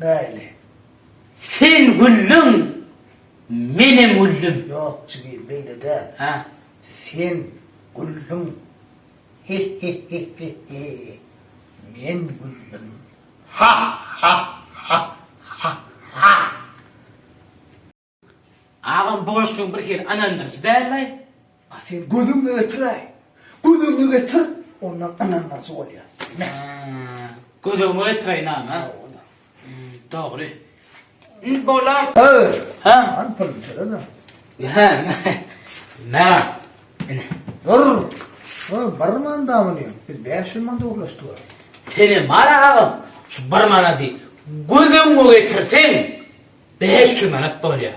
Bäli. Sen güldüň, menem güldüm. Ýok, jigim, beýle däl. Hä? Sen güldüň, hi-hi-hi-hi-hi, men güldüm, ha-ha-ha-ha-ha. Agam bu goşgyň bir hili ynandyryjy däldaý. A sen gözüňi getiräý. Gözüňi getir, ondan ynandyryjy bolýar. Haa. Gözüňi getiräýin agam ha. Dogry. Indi bolar. Ööö. Ha. An puluny töle-de. Hä. Mä. Ine. Dur. Hö, bir manda muny. Biz bäş ýüz manda ugrlaşdyk. Senem bar agam. Şu bir manady gözüňi getirseň. Bäş ýüz manat bolýar.